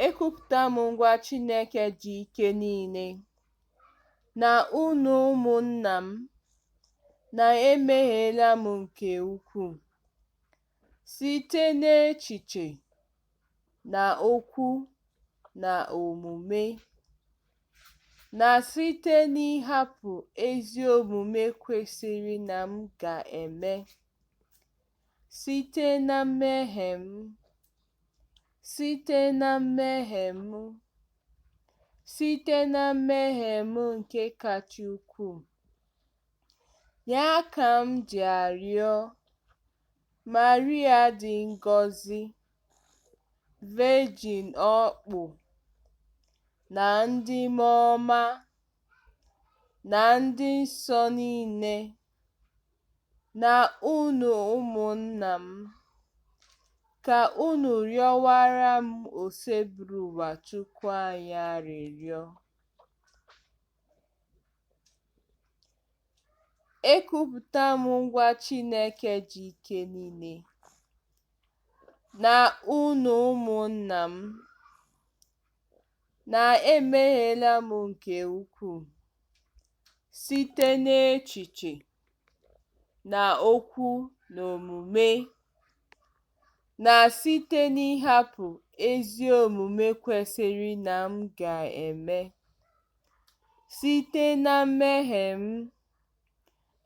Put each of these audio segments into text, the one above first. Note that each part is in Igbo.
Ekwupụta m gwa Chineke ji ike niile, na unu ụmụnna m, na emehiela m nke ukwuu, site n'echiche, na okwu, na omume, na site n'ịhapụ ezi omume kwesịrị na m ga-eme, site na mmehie m. Site na mmehie m, site na mmehie m nke kacha ukwuu, ya ka m ji arịọ Maria dị ngọzi, Virgin ọkpụ, na ndị mmụọ ọma, na ndị nsọ niile na unu ụmụnna m, ka unu rịọwara m Osebụrụwa Chukwu anyị arịrịọ. Ekwupụta m gwa Chineke ji ike niile, na unu ụmụnna m, na emehiela m nke ukwuu site n'echiche na okwu na omume, na site n'ịhapụ ezi omume kwesịrị na m ga-eme, site na mmehie m,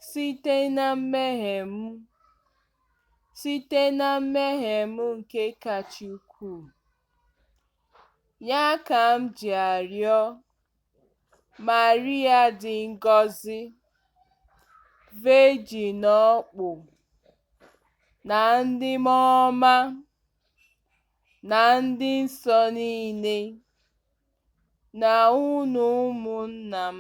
site na mmehie m, site na mmehie m nke kacha ukwuu. Ya ka m ji arịọ Maria dị ngọzi, Virgin ọkpụ, na ndị mmụọ ọma na ndị nsọ niile, na unu ụmụnna m,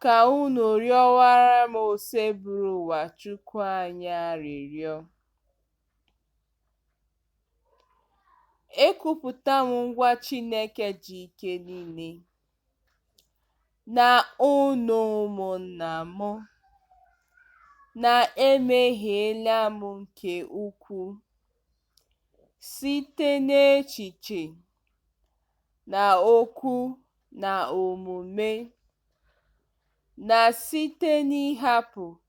ka unu rịọwara m Osebụrụwa Chukwu anyị arịrịọ. Ekwupụta m gwa Chineke ji ike niile na unu ụmụnna m na emehiela m nke ukwuu site n'echiche na okwu na omume na site n'ịhapụ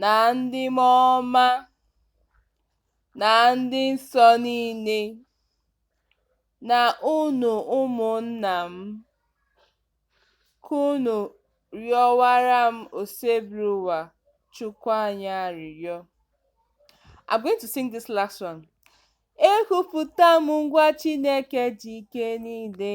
na ndị mmụọ ọma na ndị nsọ niile, na unu ụmụnna m, ka unu rịọwara m Osebruwa Chukwu anyị arịrịọ. I'm going to sing this last one. Ekwupụta m gwa Chineke ji ike niile.